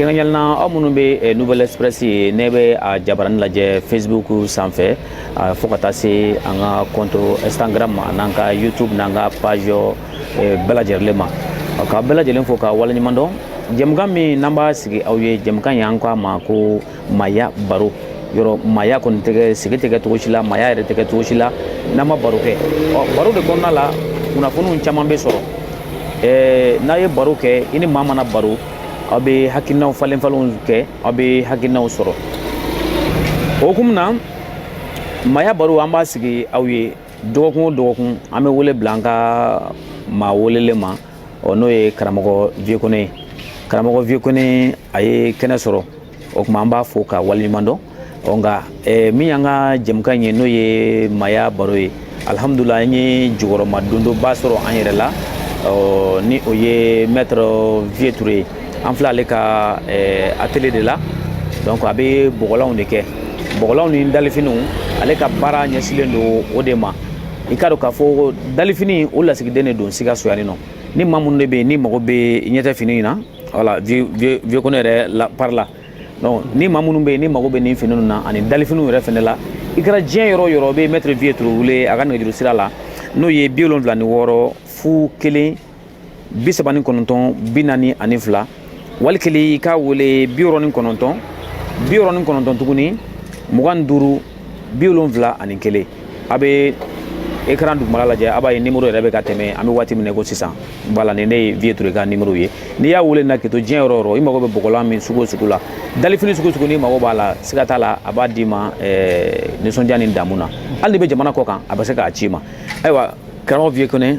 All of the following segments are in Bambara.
kɛrɛnkɛrɛnnenya la aw minnu bɛ eh, nouvelle express ye ne bɛ a jabarani lajɛ facebook sanfɛ fo ka taa se an ka compte instagram n'an ka youtube n'an ka page bɛɛ lajɛlen ma k'a bɛɛ lajɛlen fo ka waleɲuman dɔn jɛmukan min n'an b'a sigi aw ye jɛmukan y'an ko a ma ko maya baro yɔrɔ maya kɔni tɛ kɛ sigi tɛ kɛ cogo si la maya yɛrɛ tɛ kɛ cogo si la n'an ma baro kɛ ɔ baro de kɔnɔna la kunnafoniw caman bɛ sɔrɔ ɛɛ n'a ye baro kɛ i ni maa mana baro aw bɛ hakilinaw falen falenw kɛ aw bɛ hakilinaw sɔrɔ o hukumu na maya baro an b'a sigi aw ye dɔgɔkun o dɔgɔkun an bɛ wele bila an ka maa welelen ma ɔ n'o ye karamɔgɔ vieux kone ye karamɔgɔ vieux kone a ye kɛnɛ sɔrɔ o tuma an b'a fo k'a waleɲuman dɔn ɔ nka min y'an ka jɛmukan in ye n'o ye maya baro ye alihamudulila an ye jukɔrɔmadondonba sɔrɔ an yɛrɛ la ɔ ni o ye mɛtiri vieux ture ye an filɛ ale ka atelier de la donc a bɛ bɔgɔlanw de kɛ bɔgɔlanw ni dalifiniw ale ka baara ɲɛsilen don o de ma i k'a dɔn k'a fɔ dalifini o lasigiden de don sikaso yan nɔ ni maa minnu de bɛ yen n'u mago bɛ ɲɛtɛ fini in na voilà vieux kone yɛrɛ la par là donc ni maa minnu bɛ yen n'u mago bɛ nin fini ninnu na ani dalifiniw yɛrɛ fɛnɛ la i kɛra diɲɛ yɔrɔ o yɔrɔ i bɛ mɛtiri vieux ture wele a ka nɛgɛjuru sira la n'o ye bi wolonfila ni wɔɔrɔ fu kelen bi saba ni kɔnɔntɔn bi naani ani fila wali kelen i k'a wele bi wɔɔrɔ ni kɔnɔntɔn bi wɔɔrɔ ni kɔnɔntɔn tuguni mugan ni duuru bi wolonfila ani kelen a bɛ ekran dugumala lajɛ a b'a ye nimoro yɛrɛ bɛ ka tɛmɛ an bɛ waati min na ko sisan voilà nin de ye vieux ture ka nimoro ye n'i y'a wele na k'i to diɲɛ yɔrɔ o yɔrɔ i mago bɛ bɔgɔlan min sugu o sugu la dalifini sugu o sugu n'i mago b'a la siga t'a la a b'a d'i ma nisɔndiya ni damu na hali n'i bɛ jamana kɔ kan a bɛ se k'a ci i ma ayiwa karamɔgɔ vieux kone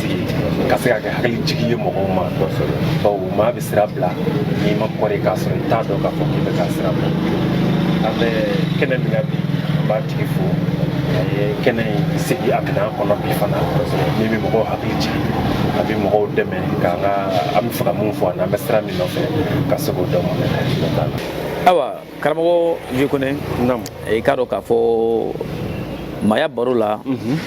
ka se ka kɛ hakili jigi ye mɔgɔw ma bawo maa bɛ sira bila n'i ma kɔrɔ k'a sɔrɔ i t'a dɔn k'a fɔ k'i bɛ ka sira bila an bɛ kɛnɛ min na bi an b'a tigi fo a ye kɛnɛ in sigi a minɛn kɔnɔ bi fana min bɛ mɔgɔw hakili jigin a bɛ mɔgɔw dɛmɛ k'an ka an b'a fɛ ka mun fɔ an'an bɛ sira min nɔfɛ ka se k'o dɔn awa karamɔgɔ vieux kone i k'a dɔn k'a fɔ maya baro la mhm.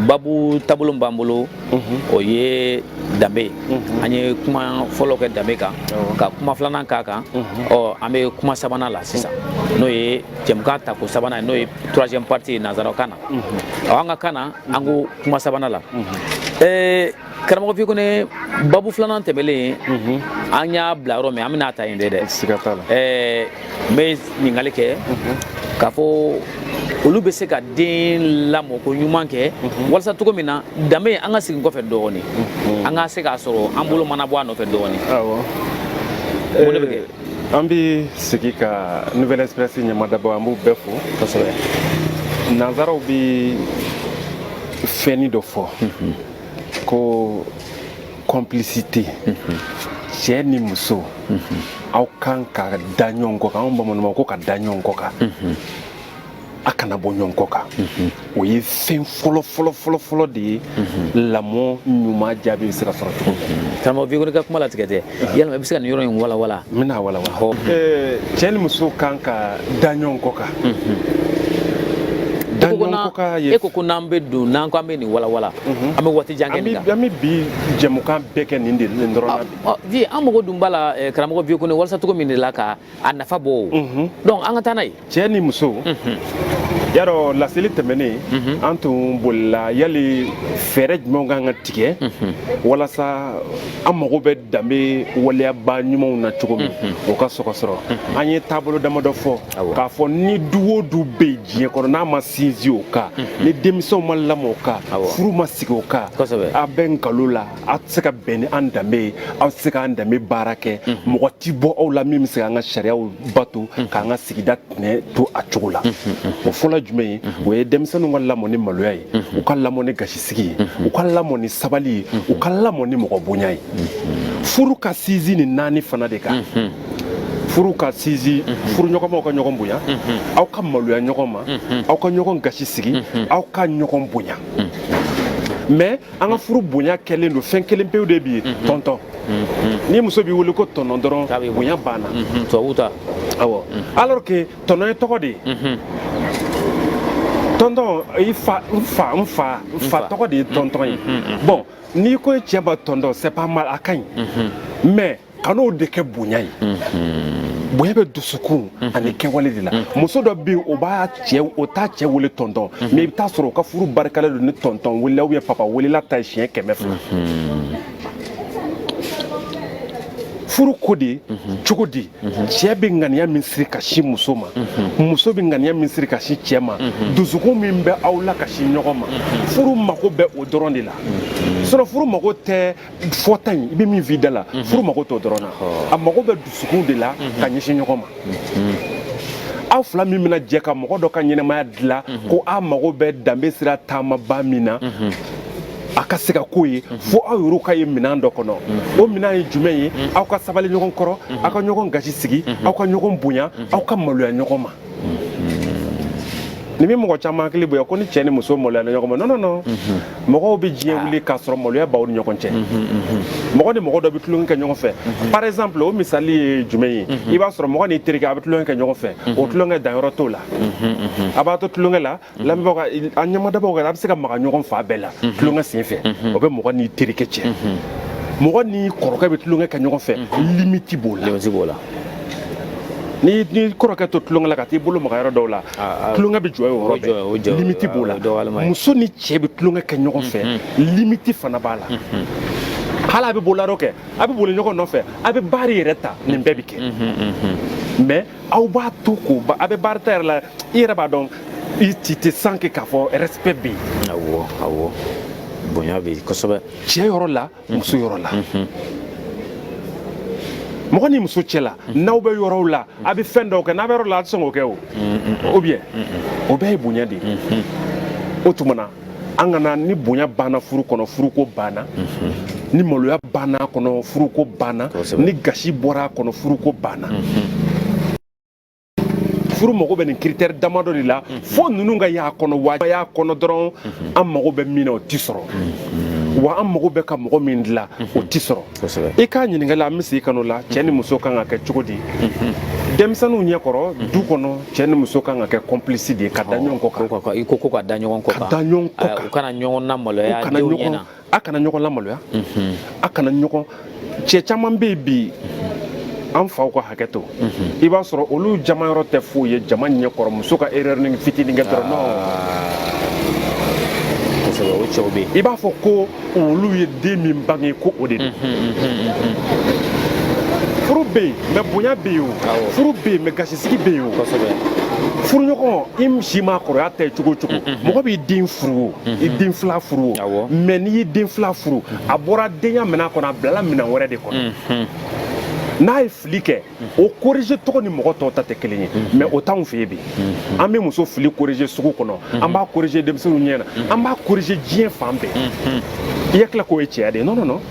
babu taabolo b'an bolo mhm. o ye danbe mhm. an ye kuma fɔlɔ kɛ danbe kan ka kuma filanan k'a kan ɔ an bɛ kuma sabanan la sisan n'o ye jɛmukan tako sabanan n'o ye troisième partie ye nanzarakan na ɔ an ka kan na an ko kuma sabanan la karamɔgɔ Vieux Kone babu filanan tɛmɛlen an y'a bila yɔrɔ min an bɛn'a ta yen de dɛ siga t'a la n bɛ ɲininkali kɛ k'a fɔ olu bɛ se ka den lamɔ ko ɲuman kɛ walasa cogo min na danbe an ka segin kɔfɛ dɔɔnin an ka se k'a sɔrɔ an bolo mana bɔ a nɔfɛ dɔɔnin o de bɛ kɛ an bɛ segin ka nouvelle express ɲamadabɔ an b'u bɛɛ fo kosɛbɛ nanzaraw bɛ fɛnni dɔ fɔ ko complicité mhm. cɛ ni muso mhm. aw kan ka da ɲɔgɔn kɔ kan anw bamananw ko ka da ɲɔgɔn kɔ kan mhm. a kana bɔ ɲɔgɔn kɔ kan o ye fɛn fɔlɔ fɔlɔ fɔlɔ fɔlɔ de ye lamɔ ɲuman jaabi bɛ se ka sɔrɔ cogo min karamɔgɔ Vieux Kone ka kuma latigɛ tɛ yalima i bɛ se ka nin yɔrɔ in walawala n bɛn'a walawala hɔ cɛ ni muso kan ka da ɲɔgɔn kɔ kan da ɲɔgɔn kɔ kan ye e ko ko n'an bɛ don n'an ko an bɛ nin walawala mhm. an bɛ waati jan kɛ nin kan an bɛ bi jɛmukan bɛɛ kɛ nin de dɔrɔn na bi an mago dun b'a la karamɔgɔ Vieux Kone walasa cogo min de la ka a nafa bɔ mhm. donc an ka taa n'a ye cɛ ni muso mhm. y'a dɔn laseli tɛmɛnen mhm. an tun bolila yali fɛɛrɛ jumɛnw kan ka tigɛ walasa an mago bɛ danbe waleyaba ɲumanw na cogo min o ka se ka sɔrɔ an ye taabolo damadɔ fɔ k'a fɔ ni du o du bɛ diɲɛ kɔnɔ n'a ma sinsin o kan ni denmisɛnw ma lamɔ o kan furu ma sigi o kan a bɛ nkalon la aw tɛ se ka bɛn ni an danbe ye aw tɛ se k'an danbe baara kɛ mɔgɔ tɛ bɔ aw la min bɛ se k'an ka sariyaw bato k'an ka sigida tɛnɛ to a cogo la o fɔlɔ jumɛn ye o ye denmisɛnninw ka lamɔ ni maloya ye u ka lamɔ ni gasisigi ye u ka lamɔ ni sabali ye u ka lamɔ ni mɔgɔ bonya ye furu ka sinsin nin naani fana de kan furu ka sinsin furuɲɔgɔnmaw ka ɲɔgɔn bonya aw ka maloya ɲɔgɔn ma aw ka ɲɔgɔn gasi sigi aw ka ɲɔgɔn bonya mais an ka furu bonya kɛlen don fɛn kelen pewu de bi ye mhm. tɔntɔn mhm. ni muso b'i wele ko tɔnɔ dɔrɔn bonya banna mhm. tubabu ta awɔ alors que tɔnɔ ye tɔgɔ de ye tɔntɔn i fa n fa n fa n fa tɔgɔ de ye tɔntɔn ye bon n'i ko i cɛ ma tɔntɔn c'est pas mal a ka ɲi mais kan'o de kɛ bonya ye bonya bɛ dusukun ani kɛwale de la muso dɔ bɛ yen o b'a cɛ o t'a cɛ wele tɔntɔn mais i bɛ taa sɔrɔ o ka furu barikalen don ni tɔntɔn welela ou bien papa welela ta ye siɲɛ kɛmɛ fila furu ko de cogo di cɛ bɛ ŋaniya min siri ka sin muso ma muso bɛ ŋaniya min siri ka sin cɛ ma dusukun min bɛ aw la ka sin ɲɔgɔn ma furu mago bɛ o dɔrɔn de la sinon furu mago tɛ fɔta in i bɛ min f'i da la mhm. furu mago t'o dɔrɔn na a mago bɛ dusukun de la mhm. ka ɲɛsin ɲɔgɔn ma mhm. aw fila min bɛna jɛ ka mɔgɔ dɔ ka ɲɛnɛmaya dilan ko aw mago bɛ danbe sira taamaba min na a ka se ka k'o ye fo aw yɛrɛ ka ye minɛn dɔ kɔnɔ o minɛn ye jumɛn ye aw ka sabali ɲɔgɔn kɔrɔ aw ka ɲɔgɔn gasi sigi aw ka ɲɔgɔn bonya aw ka maloya ɲɔgɔn ma nin bɛ mɔgɔ caman hakili bonya ko ni cɛ ni muso maloyana ɲɔgɔn ma non non non mɔgɔw bɛ diɲɛ ah. wuli k'a sɔrɔ maloya b'aw ni ɲɔgɔn cɛ mɔgɔ ni mɔgɔ dɔ bɛ tulonkɛ kɛ ɲɔgɔn fɛ par exemple o misali ye jumɛn ye i b'a sɔrɔ mɔgɔ n'i terikɛ a bɛ tulonkɛ kɛ ɲɔgɔn fɛ o tulonkɛ danyɔrɔ t'o la a b'a to tulonkɛ la lamɛnbagaw a ɲɛmadabagaw ka a bɛ se ka maga ɲɔgɔn fan bɛɛ la tulonkɛ sen fɛ o bɛ mɔgɔ n'i terikɛ cɛ mɔgɔ n'i kɔrɔkɛ bɛ tulonkɛ kɛ ɲɔgɔn fɛ limiti b'o la limiti b'o la n'i n'i kɔrɔkɛ to tulonkɛ la ka t'i bolo maga yɔrɔ dɔw la tulonkɛ bɛ jɔ o yɔrɔ bɛɛ limiti b'o la muso ni cɛ bɛ tulonkɛ kɛ ɲɔgɔn fɛ limiti fana b'a la hali a bɛ bolo kɛ a bɛ boli ɲɔgɔn nɔfɛ a bɛ baari yɛrɛ ta nin bɛɛ bɛ kɛ mais aw b'a to ko a bɛ baarita yɛrɛ la i yɛrɛ b'a dɔn i ci tɛ san kɛ k'a fɔ respect bɛ yen awɔ awɔ bonya bɛ yen kosɛbɛ cɛ yɔrɔ la muso yɔrɔ la mɔgɔ n'i muso cɛ la n'aw bɛ yɔrɔw la a bɛ fɛn dɔw kɛ n'a bɛ yɔrɔ la a tɛ sɔn k'o kɛ o ou bien o bɛɛ ye bonya de ye o tuma na an kana ni bonya banna furu kɔnɔ furuko banna mhm. ni maloya banna a kɔnɔ furuko banna ni gasi bɔra a kɔnɔ furuko banna mhm. furu mago bɛ nin critère damadɔ de la mhm. fo ninnu ka y'a kɔnɔ wa y'a kɔnɔ dɔrɔn an mago bɛ min na o tɛ sɔrɔ wa an mago bɛ ka mɔgɔ min dilan o tɛ sɔrɔ i ka ɲininkali an bɛ segin ka n'o la cɛ ni muso kan ka kɛ cogo di denmisɛnninw ɲɛ kɔrɔ du kɔnɔ cɛ ni muso kan ka kɛ complice de ye ka da ɲɔgɔn kɔ kan i ko ko ka da ɲɔgɔn kɔ kan da ɲɔgɔn kɔ kan u kana ɲɔgɔn lamaloya kana ɲɔgɔn a kana ɲɔgɔn lamaloya a kana ɲɔgɔn cɛ caman bɛ yen bi an faw ka hakɛ to i b'a sɔrɔ olu jama yɔrɔ tɛ foyi ye jama ɲɛ kɔrɔ muso ka erreurnin fitinin kɛ dɔrɔn ah. i b'a fɔ ko olu ye den min bange ko o de don furu bɛ yen mais bonya bɛ yen o furu bɛ yen mais gasisigi bɛ yen o furuɲɔgɔn i si ma kɔrɔya ta ye cogo o cogo mɔgɔ b'i den furu o i den filan furu o mais n'i y'i den filan furu a bɔra denya minɛn kɔnɔ a bilala minɛn wɛrɛ de kɔnɔ n'a ye fili kɛ o corriger cogo ni mɔgɔ tɔw ta tɛ kelen ye mais o t'anw fɛ yen bi an bɛ muso fili corriger sugu kɔnɔ an b'a corriger denmisɛnninw ɲɛ na an b'a corriger diɲɛ fan bɛɛ i hakili la k'o ye cɛya de ye non non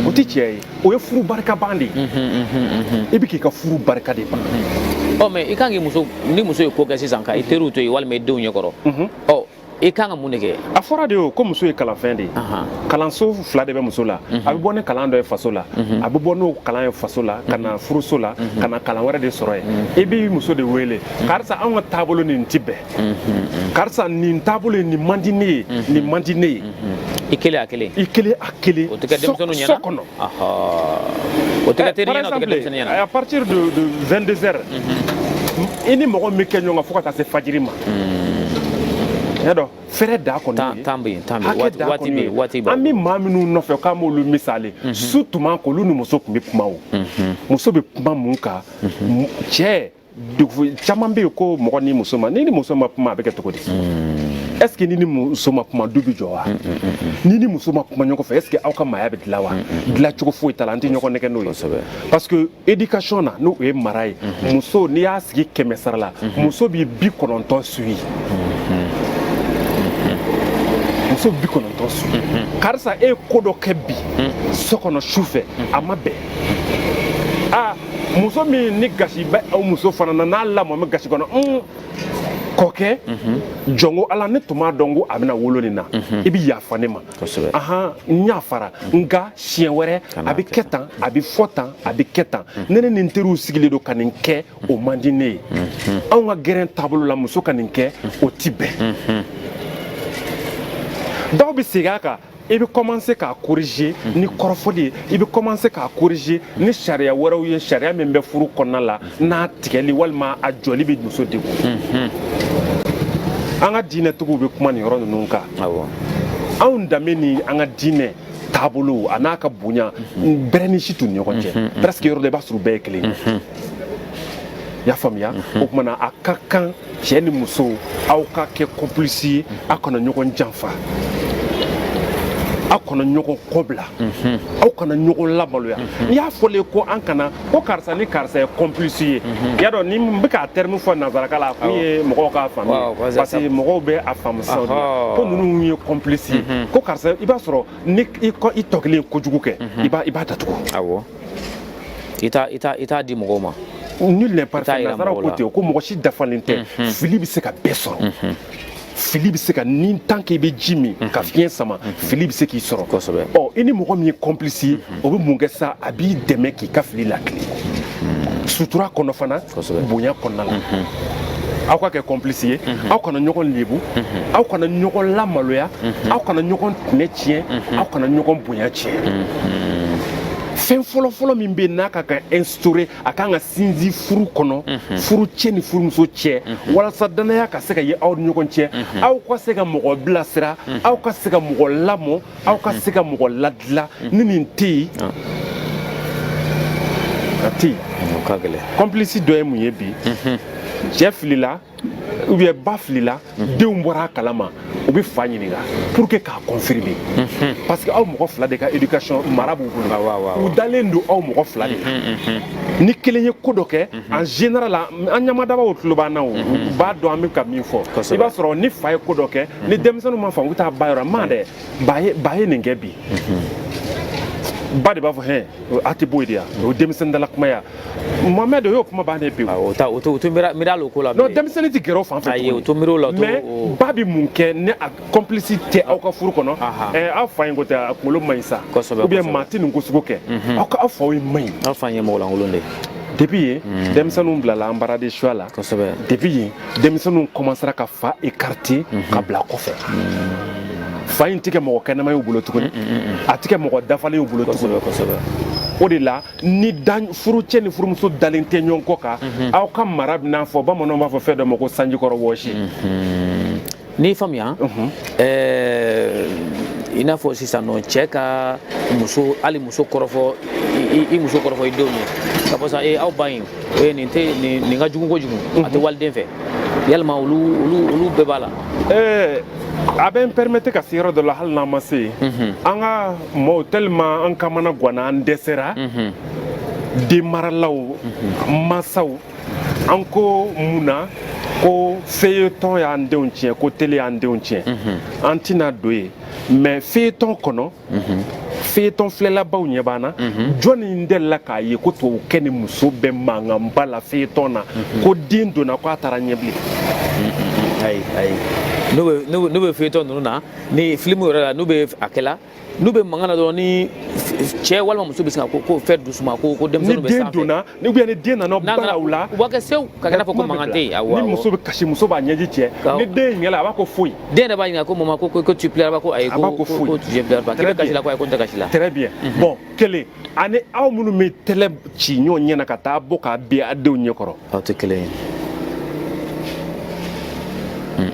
o tɛ cɛya ye o ye furu barikaban de ye i bɛ k'i ka furu barika de ban ɔ mais i kan k'i muso ni muso ye ko kɛ sisan ka i teriw to yen walima i denw ɲɛ kɔrɔ ɔ i kan ka mun de kɛ a fɔra de o ko muso ye kalanfɛn de ye kalanso fila de bɛ muso la mhm. a bɛ bɔ ni kalan dɔ ye faso la mhm. a bɛ bɔ n'o kalan ye faso la ka na mhm. furuso la ka na kalan wɛrɛ de sɔrɔ yen i b'i muso de wele karisa anw ka taabolo nin ti bɛn karisa nin taabolo ye nin man di ne ye nin man di ne ye i kelen a kelen i kelen a kelen o tɛ kɛ denmisɛnninw ɲɛna so kɔnɔ i ni mɔgɔ min kɛ ɲɔgɔn kan fo ka taa se fajiri ma y'a dɔn fɛrɛ da kɔni an bɛ maa minnu nɔfɛ k'an b'olu misali su tuma k'olu ni muso tun bɛ kuma o muso bɛ kuma mun kan cɛ caman bɛ yen ko mɔgɔ ni muso ma n'i ni muso ma kuma a bɛ kɛ cogo di est ce que n'i ni muso ma kuma du bɛ jɔ wa n'i ni muso ma kuma ɲɔgɔn fɛ est ce que aw ka maaya bɛ dilan wa dilan cogo foyi t'a la an tɛ ɲɔgɔn nɛgɛn n'o ye parce que éducation na n'o ye mara ye muso n'i y'a sigi kɛmɛ sara la muso bɛ bi kɔnɔntɔn suyi muso bɛ bi kɔnɔntɔn suyi karisa e ye ko dɔ kɛ bi so kɔnɔ su fɛ a ma bɛn muso min ni gasi bɛ o muso fana na n'a lamɔ bɛ gasi kɔnɔ un kɔkɛ jɔn ko ala ne tun m'a dɔn ko a bɛna wolo nin na i bɛ yafa ne ma Kosɛbɛ. ahan n yafara nka siɲɛ wɛrɛ Kana a bɛ kɛ kɛ tan a bɛ fɔ tan a bɛ kɛ tan ne ni nin teriw sigilen don ka nin kɛ o man di ne ye anw ka gɛrɛn taabolo la muso ka nin kɛ o ti bɛn dɔw bɛ segin a kan i bɛ kɔmanse k'a korije ni kɔrɔfɔli ye i bɛ kɔmanse k'a korije ni sariya wɛrɛw ye sariya min bɛ furu kɔnɔna la n'a tigɛli walima a jɔli bɛ muso degun an ka diinɛtigiw bɛ kuma nin yɔrɔ ninnu kan anw danbe ni an ka diinɛ taabolo a n'a ka bonya bɛrɛnin si t'u ni ɲɔgɔn cɛ presque yɔrɔ dɔ la i b'a sɔrɔ u bɛɛ ye kelen ye y'a faamuya o tumana a ka kan cɛ ni muso aw ka kɛ complice ye aw kana ɲɔgɔn janfa aw kana ɲɔgɔn kɔbila mhm. aw kana ɲɔgɔn lamaloya mhm. n'i y'a fɔlen ko an kana ko karisa ni karisa ye complice ye mhm. y'a dɔn ni n bɛ k'a terme fɔ nanzarakan la a kun ye mɔgɔw k'a faamu parce que mɔgɔw bɛ a faamu sisan ko ninnu ye complice ye ko karisa i b'a sɔrɔ ni i tɔ kelen ye kojugu kɛ i b'a datugu i t'a di mɔgɔw ma nul n'est parfait nasaraw ko ten ko mɔgɔ si dafalen tɛ mhm. fili bɛ se ka bɛɛ sɔrɔ mhm. fili bɛ se ka ni tant que i bɛ ji min mhm. ka fiɲɛ sama fili bɛ se k'i sɔrɔ kosɛbɛ ɔ i ni mɔgɔ min ye complice ye o bɛ mun kɛ sa a b'i dɛmɛ k'i ka fili lakilen sutura kɔnɔ fana bonya kɔnɔna la aw ka kɛ complice ye aw kana ɲɔgɔn lebu aw kana ɲɔgɔn lamaloya aw kana ɲɔgɔn tɛmɛ tiɲɛ aw kana ɲɔgɔn bonya tiɲɛ fɛn fɔlɔfɔlɔ min bɛ n'a ka kan instaurer a kan ka sinsin furu kɔnɔ mhm. furucɛ ni furumuso cɛ mhm. walasa dannaya ka se ka ye aw ni ɲɔgɔn cɛ mhm. aw ka se ka mɔgɔ bilasira aw ka se ka mɔgɔ lamɔ aw ka se ka mɔgɔ ladila ni nin tɛ yen ah. a tɛ yen complice dɔ ye mun ye bi cɛ filila ou bien ba filila denw bɔra a kalama u bɛ fa ɲininka pour que k'a confirmer parce que aw mɔgɔ fila de ka éducation mara b'u bolo u dalen don aw mɔgɔ fila de la ni kelen ye ko dɔ kɛ en général an ɲamadabaw tulo b'an na o u b'a dɔn an bɛ ka min fɔ i b'a sɔrɔ ni fa ye ko dɔ kɛ ni denmisɛnninw m'a faamu u bɛ taa ba yɔrɔ ma dɛ ba ye ba ye nin kɛ bi ba de b'a fɔ hɛn a tɛ bɔ yen de yan o ye denmisɛnnin dala kuma ye wa Mohamed o y'o kuma bannen pewu. Awɔ o ta o tɛ o tɛ miiri miiri hali o ko la. Non denmisɛnnin tɛ gɛrɛ o fan fɛ. Ayi o tɛ miiri o la o to. Mais ba bɛ mun kɛ ni a complice tɛ aw ka furu kɔnɔ. Ɛɛ aw fa in ko tɛ a kunkolo man ɲi sa. Kosɛbɛ kosɛbɛ. Ou bien maa tɛ nin ko sugu kɛ. Aw ka aw faw ye man ɲi. Aw fa in ye mɔgɔ lankolon de ye. Depuis yen denmisɛnninw bilala embarras de choix la. Kosɛbɛ. Depuis yen denmisɛnninw commencera ka fa écarter ka bila kɔfɛ. Fa in tɛ kɛ mɔgɔ kɛnɛma y'u bolo tuguni. A tɛ kɛ mɔgɔ dafalen y'u bolo tuguni. Kosɛbɛ kosɛbɛ. O de la ni furucɛ ni furumuso dalen tɛ ɲɔgɔn kɔ kan mhm. aw ka mara bɛna fɔ bamananw b'a fɔ fɛn dɔ ma ko sanjikɔrɔwɔsi mhm. n'i faamuya mhm. eh, i n'a fɔ sisan n'o cɛ ka muso hali muso kɔrɔfɔ i muso kɔrɔfɔ i denw ye k'a fɔ sisan ee aw ba in ee nin tɛ nin ka jugu kojugu a tɛ waliden fɛ yalima olu olu olu bɛɛ b'a la ɛɛ eh, a bɛ n permettre ka se yɔrɔ dɔ la hali n'an ma se yen an ka maaw tellement an kamanagwanna an dɛsɛra denmaralaw masaw an ko mun na ko feuilleton y'an denw tiɲɛ ko télé y'an denw tiɲɛ an tɛna don yen mais feuilleton kɔnɔ feuilleton filɛlabaw ɲɛ b'an na jɔnni delila k'a ye ko tubabukɛ ni muso bɛ mankanba la feuilleton na ko den donna ko a taara ɲɛ bilen ayi ayi n'u bɛ n'u bɛ- n'u bɛ feuilleton ninnu na ni filimu yɛrɛ la n'u bɛ a kɛla n'u bɛ mankan na dɔrɔn ni cɛ walima muso bɛ sin ka ko ko fɛn doucement ko ko denmisɛnninw bɛ sanfɛ ni den donna ni ou bien ni den nana bala u la u b'a kɛ sew ka kɛ i n'a fɔ ko mankan tɛ yen awɔ ni muso bɛ kasi muso b'a ɲɛji cɛ ni den ye ɲɛla a b'a ko foyi den yɛrɛ b'a ɲininka ko mama ko ko tu pleures ba ko ayi ko ko ko je pleure pas k'i bɛ kasi la ko ayi ko n tɛ kasi la très bien mhm. bon kelen ani aw minnu bɛ tɛgɛ ci ɲɔgɔn ɲɛ na ka taa bɔ k'a bin a denw ɲɛ kɔrɔ aw tɛ kelen ye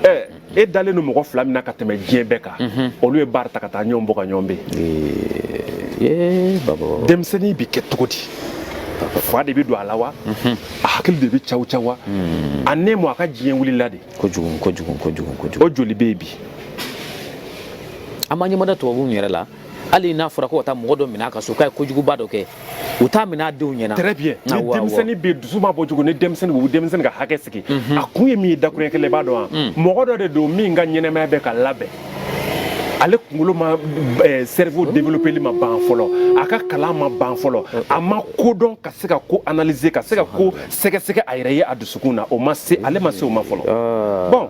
ɛɛ e dalen don mɔgɔ fila min na ka tɛmɛ diɲɛ bɛɛ kan mhm. olu ye baara ta ka taa ɲɔgɔn bɔ ka ɲɔgɔn bɛn denmisɛnnin bɛ kɛ cogo di fa de bɛ don a la wa mhm. a hakili de bɛ caw caw wa mhm. a ne mɔ a ka diɲɛ wulila de kojugu kojugu kojugu kojugu o joli bɛ yen bi an ma ɲɛmada tubabuw yɛrɛ la hali n'a fɔra ko ka taa mɔgɔ dɔ minɛ a ka so k'a ye kojuguba dɔ kɛ u t'a minɛ a denw ɲɛna très bien ni denmisɛnnin bɛ dusu ma bɔ cogo ni denmisɛnnin bɛ denmisɛnnin ka hakɛ sigi mhm. a kun ye min ye dakuruɲɛ kelen i b'a dɔn wa mm. mɔgɔ dɔ de don min ka ɲɛnamaya bɛ ka labɛn ale kunkolo ma eh, cerveau développeli ma ban fɔlɔ a ka kalan ma ban fɔlɔ a ma ko dɔn ka se ka ko analyser ka se ka ko sɛgɛsɛgɛ a yɛrɛ ye a dusukun na o ma se ale ma se o ma fɔlɔ ah. bon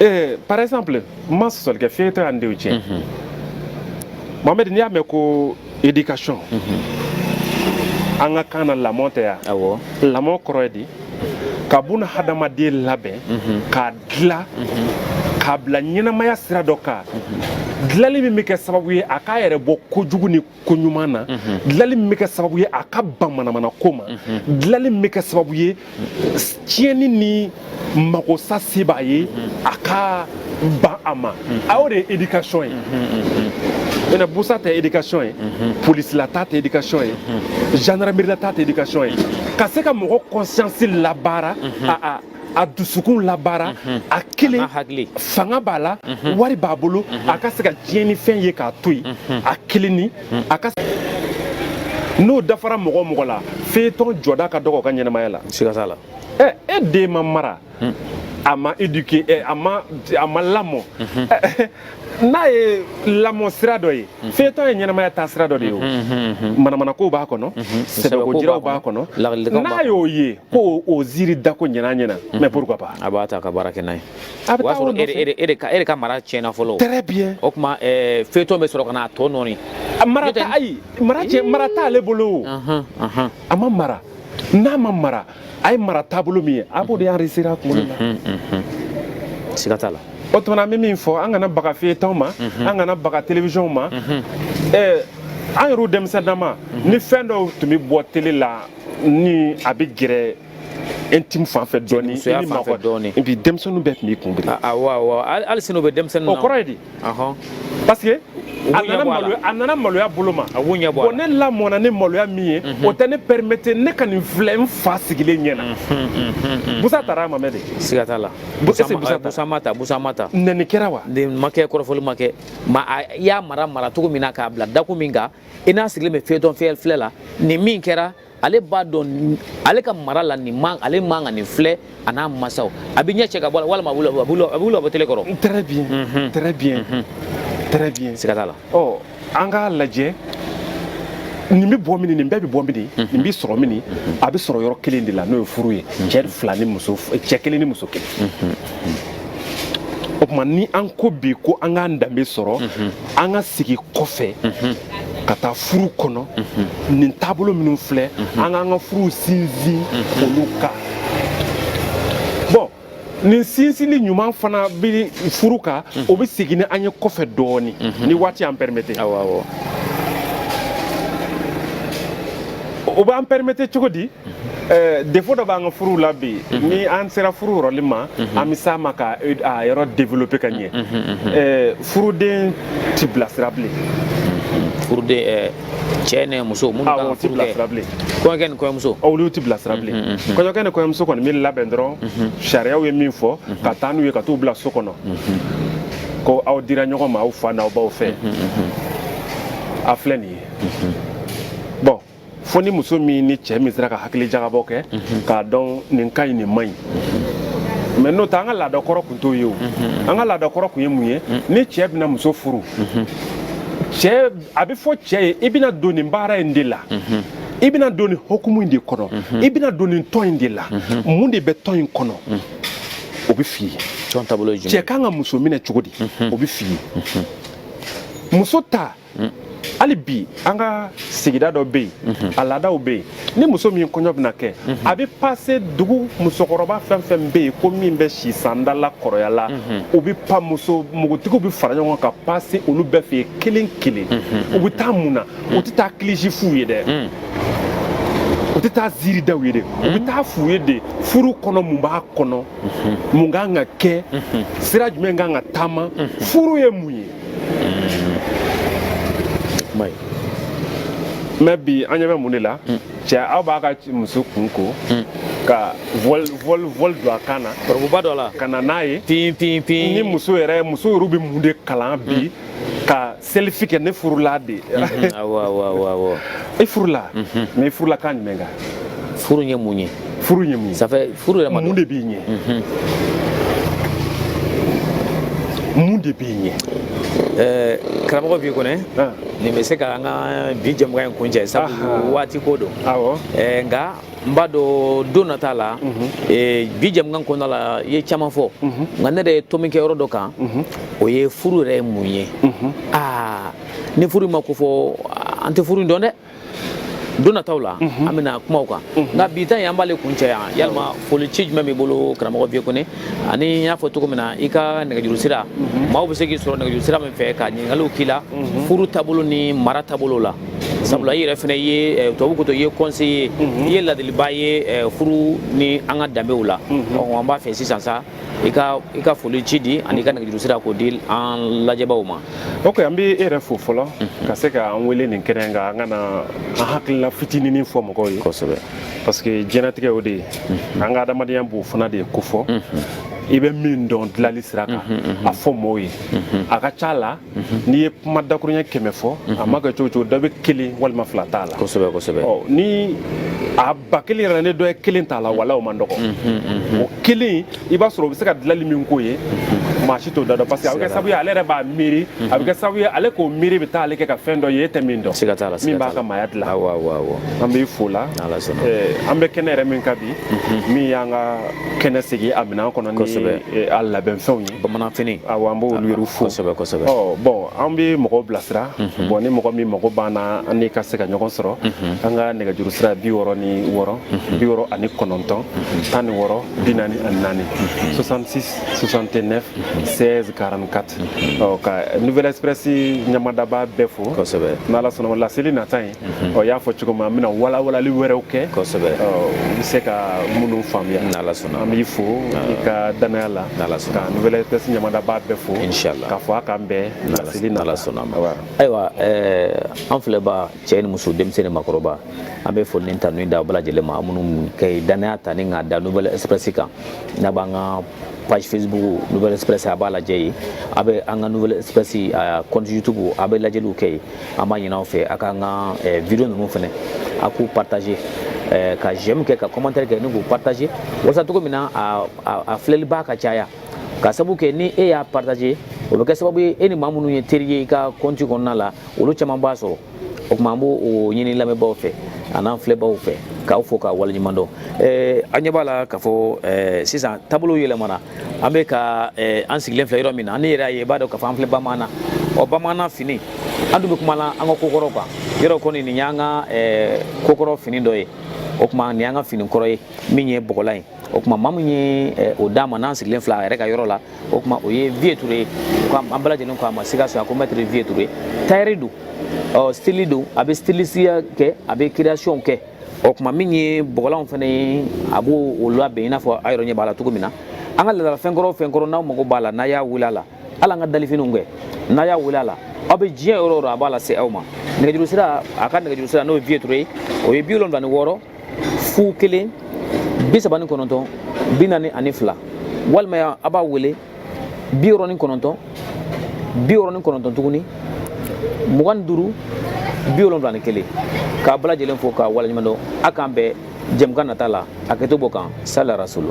Eh, par exemple n ma sɔsɔli kɛ feuilleton y'an denw tiɲɛ mhm. mohamɛd n'i y'a mɛn ko éducation mhm. an ka kan na lamɔ tɛ yan lamɔ kɔrɔ ye di ka buna hadamaden labɛn mhm. k'a dila k'a bila ɲɛnamaya sira dɔ kan dilali min bɛ kɛ sababu ye a k'a yɛrɛ bɔ kojugu ni koɲuman na dilali min bɛ kɛ sababu ye a ka ban manamana ko ma dilali min bɛ kɛ sababu ye tiɲɛni ni makosa se b'a ye a ka ban a ma a y'o de ye éducation ye maintenant busa tɛ éducation ye polisi la taa tɛ éducation ye gendarmerie la taa tɛ éducation ye ka se ka mɔgɔ conscience labaara a a a dusukun labaara mhm. a kelen fanga b'a la mhm. wari b'a bolo mhm. a ka se ka tiɲɛnifɛn ye k'a to yen a kelen ni a ka n'o dafara mɔgɔ o mɔgɔ la feuilleton jɔda ka dɔgɔ o ka ɲɛnamaya la siga t'a la ɛ e den ma mara hmm. a ma éduquer a ma a ma lamɔ n'a ye lamɔ sira dɔ ye mhm. feuilleton ye ɲɛnamaya taa sira dɔ de ye o mhm, mhm, manamanakow b'a kɔnɔ sɛbɛko jiraw b'a kɔnɔ n'a y'o ye ko o ziiri dako ɲɛna ɲɛna mais pourquoi pas a b'a ta ka baara kɛ n'a ye a bɛ taa o nɔfɛ e, e, e, e de ka mara tiɲɛna fɔlɔ très bien o tuma feuilleton bɛ sɔrɔ ka n'a tɔ nɔɔni mara t'a ayi mara tɛ mara t'ale bolo o a ma mara n'a ma mara a ye mara taabolo min ye a b'o de enregistrer a kunkolo la siga t'a la o tuma na an bɛ min fɔ an kana baga feuilleton ma an kana baga télévision ma ɛɛ an yɛrɛw denmisɛnnama ni fɛn dɔw tun bɛ bɔ télé la ni a bɛ gɛrɛ intime fan fɛ dɔɔni Cɛnimusoya i ni fan fɛ maakɔrɔ- dɔɔni. et puis denmisɛnninw bɛɛ tun b'i kun biri awɔ awɔ hali hali sini o bɛ denmisɛnninw na o kɔrɔ ye di parce que a nana maloya a nana maloya bolo ma a ɲɛ bɔ ne lamɔna ni maloya min ye o tɛ ne permettre ne ka nin filɛ n fa sigilen ɲɛ na busa tara wa mohamɛd siga t'a la busa ma ta busa ma ta nɛni kɛra wa a ma kɛ kɔrɔfɔli ma kɛ mais i y'a mara mara cogo min na k'a bila dakun min kan i n'a sigilen bɛ feuilleton fiyɛ filɛ la nin min kɛra ale b'a dɔn ale ka mara la nin man ale man ka nin filɛ a n'a masaw a bɛ ɲɛ cɛ ka bɔ walima a b'u labɔ tele kɔrɔ. très bien mhm. très bien mhm. très bien. siga t'a la. ɔ an k'a lajɛ nin bɛ bɔ min nin bɛɛ bɛ bɔ min mhm. nin bɛ sɔrɔ min a bɛ sɔrɔ yɔrɔ kelen de la n'o ye furu ye cɛ fila ni muso cɛ kelen ni muso kelen. o tuma ni an ko bi ko an k'an danbe sɔrɔ an ka segin kɔfɛ ka taa furu kɔnɔ nin taabolo minnu filɛ an k'an ka furuw sinsin olu kan bon nin sinsinni ɲuman fana bɛ furu kan o bɛ segin ni an ye kɔfɛ dɔɔnin ni waati y'an permettre o b'an permettre cogo di Eh, défaut dɔ b'an ka furuw la bi mhm. ni an sera furu yɔrɔli ma mhm. an bɛ s'a ma ka eh, a yɔrɔ développer ka ɲɛ mhm, eh, furuden ti bilasira bilen furuden cɛ ni muso minnu kan ka furu kɛ kɔɲɔkɛ ni kɔɲɔmuso olu ti bilasira bilen kɔɲɔkɛ ni kɔɲɔmuso kɔni bɛ labɛn dɔrɔn sariyaw ye min fɔ ka taa n'u ye ka t'u bila so kɔnɔ ko aw dira ɲɔgɔn ma aw fa n'aw baw fɛ a filɛ nin ye fo ni muso min ni cɛ min sera ka hakili jagabɔ kɛ k'a dɔn nin ka ɲi nin man ɲi mais n'o tɛ an ka laada kɔrɔ tun t'o ye o an ka laada kɔrɔ tun ye mun ye ni cɛ bɛna muso furu cɛ a bɛ fɔ cɛ ye i bɛna don nin baara in de la i bɛna don nin hukumu in de kɔnɔ i bɛna don nin tɔn in de la mun de bɛ tɔn in kɔnɔ o bɛ f'i ye cɛ kan ka muso minɛ cogo di o bɛ f'i ye muso ta hmm. hali bi an ka sigida dɔ bɛ yen a laadaw bɛ yen ni muso min kɔɲɔ bɛna kɛ a bɛ passer dugu musokɔrɔba fɛn fɛn bɛ yen ko min bɛ si sanda la kɔrɔya la u bɛ pa muso npogotigiw bɛ fara ɲɔgɔn kan ka passer olu bɛɛ fɛ yen kelen kelen u bɛ taa mun na u tɛ taa kilisi f'u ye dɛ u tɛ taa ziiri da u ye dɛ u bɛ taa f'u ye de furu kɔnɔ mun b'a kɔnɔ mun kan ka kɛ sira jumɛn kan ka taama furu ye mun ye mais bi an ɲɛ bɛ mun de la mm. cɛ aw b'a ka muso kun ko mm. ka voile don a kan na k'ɔrɔbuba don a la ka na n'a ye tin tin tin ni muso yɛrɛ muso yɛrɛ bɛ mun de kalan bi mm. ka selfie kɛ ne furula de mm-hmm. awɔ awɔ awɔ i furula mm-hmm. mais i furula kan jumɛn kan furu ye mun ye furu ye mun ye ça fait furu yɛrɛ ma mun de b'i ɲɛ mhm. mun de b'i ɲɛ eh, karamɔgɔ B Kɔnɛ ah. nin bɛ se ka an ka bi jɛmukan in kuncɛ sabu waati ko don eh, nka n b'a dɔn don nata la mhm. eh, bi jɛmukan kɔnɔna la i ye caman fɔ mhm. nka ne de ye tomi kɛ yɔrɔ dɔ kan o ye furu yɛrɛ ye mun ye aa ah, ni furu ma kofɔ an tɛ furu in dɔn dɛ don nataw la mhm. an bɛna kumaw kan mhm. nka bi ta ye an b'ale kuncɛ yan yalima foli ci jumɛn b'i bolo karamɔgɔ vieux kone ani n y'a fɔ cogo min na i ka nɛgɛjuru sira mhm. maaw bɛ se k'i sɔrɔ nɛgɛjuru sira min fɛ ka ɲininkaliw k'i la furu taabolo ni mara taabolo la sabula i yɛrɛ fana ye eh, tubabu ko to i ye conseiller i ye ladiliba ye eh, furu ni an ka danbew la an b'a fɛ sisan sa i ka i ka foli ci di ani i ka nɛgɛjuru sira k'o di an lajɛbaaw ma ok an bɛ e yɛrɛ fo fɔlɔ mhm. ka se ka an wele nin kɛnɛ in kan an ka na an hakilila fitininin fɔ mɔgɔw ye kosɛbɛ parce que diɲɛnatigɛ o de ye mhm. an ka adamadenya b'o fana de ko fɔ mhm. i bɛ min dɔn dilali sira kan a fɔ mɔgɔw ye a ka ca la n'i ye kuma dakurunya kɛmɛ fɔ a ma kɛ cogo cogo dɔ bɛ kelen walima fila t'a la kosɛbɛ kosɛbɛ ni a ba kelen yɛrɛ ni dɔ ye kelen t'a la wala o man dɔgɔ o kelen i b'a sɔrɔ o bɛ se ka dilanli min k'o ye maa si t'o dan dɔn parce que a bɛ kɛ sababu ye ale yɛrɛ b'a miiri a bɛ kɛ sababu ye ale k'o miiri bɛ taa ale kɛ ka fɛn dɔ ye e tɛ min dɔn se ka t'a la min b'a ka maaya dilan an b'i fo la an bɛ kɛnɛ yɛrɛ min kan bi min y'an ka kɛnɛ sigi a minɛn kɔnɔ ni a labɛnfɛnw ye bamananfini awɔ an b'olu yɛrɛ fo kosɛbɛ kosɛbɛ ɔ bon an bɛ mɔgɔw bilasira mhm. bon ni mɔgɔ min mago b'an na an n'i ka se ka ɲɔgɔn sɔrɔ mhm. an ka nɛgɛjuru sira bi wɔɔrɔ ni wɔɔrɔ mhm. bi wɔɔrɔ ani kɔnɔntɔn tan ni wɔɔrɔ bi naani ani naani 66 69 16 44 ɔ ka nouvelle express ɲamadaba bɛɛ fo kosɛbɛ n'ala sɔnna laseli nata ye n y'a fɔ cogo min an bɛna walawalali wɛrɛw kɛ kosɛbɛ i bɛ se ka minnu faamuya n'ala sɔnna an b'i fo i ka danaya la n'ala sɔnna ka nouvelle express ɲamadaba bɛɛ fo inshallah k'a fɔ a k'an bɛn laseli nata ma ayiwa an filɛbaa cɛ ni muso denmisɛn ni makɔrɔba an bɛ foli ni tanu da bɛɛ lajɛlen ma minnu ka danaya ta ni k'a da nouvelle express kan n'a b'an ka page facebook nouvelle express a b'a lajɛ yen a bɛ an ka nouvelle express compte youtube a bɛ lajɛliw kɛ yen an b'a ɲin'aw fɛ a k'an ka video ninnu fɛnɛ a k'u partager ka j'aime kɛ ka commentaire kɛ ni k'u partager walasa cogo min na a filɛlibaa ka caya k'a sabu kɛ ni e y'a partager o bɛ kɛ sababu ye e ni maa minnu ye teri ye i ka compte kɔnɔna la olu caman b'a sɔrɔ o tuma an b'o ɲini lamɛnbaaw fɛ an'an filɛbaaw fɛ k'aw fo k'a waleɲuman dɔn a ɲɛ b'a la k'a fɔ sisan taabolo yɛlɛmana an bɛ ka eh, an sigilen filɛ yɔrɔ min na n'e yɛrɛ y'a ye i b'a dɔn k'a fɔ an filɛ bamanan na ɔ bamanan fini an dun bɛ kuma la an ka kokɔrɔw kan yɔrɔ kɔni nin y'an ka eh, kokɔrɔ fini dɔ ye o tuma nin y'an ka fini kɔrɔ ye min ye bɔgɔlan ye o tuma maa min ye eh, o d'an ma n'an sigilen filɛ a yɛrɛ ka yɔrɔ la o tuma o ye vieux ture ye ko an bɛɛ lajɛlen ko a ma sikaso a ko mɛtiri vieux ture tayɛri don ɔ stili don a bɛ stilisiya kɛ a bɛ kireyasiyɔnw kɛ o tuma min ye bɔgɔlanw fana ye a b'o o labɛn i n'a fɔ a yɛrɛ ɲɛ b'a la cogo min na an ka laadala fɛn kɔrɔ o fɛn kɔrɔ n'aw mago b'a la n'a y'a wele a la hali an ka dalifiniw kɛ n'a y'a wele a la aw bɛ diɲɛ yɔrɔ o yɔrɔ a b'a lase aw ma nɛgɛjuru sira a ka nɛgɛjuru sira n'o ye vieux touré ye o ye bi wolonwula ni wɔɔrɔ fu kelen bi saba ni kɔnɔntɔn bi naani ani fila walima a b'a wele bi wɔɔrɔ ni kɔnɔntɔn bi wɔɔrɔ ni kɔnɔntɔn tuguni mugan ni duuru bi wolonwula ni kelen k'a bɛɛ lajɛlen fo k'a waleɲuman dɔn a k'an bɛɛ jɛmukan nata la a kɛto b'o kan sala rasulu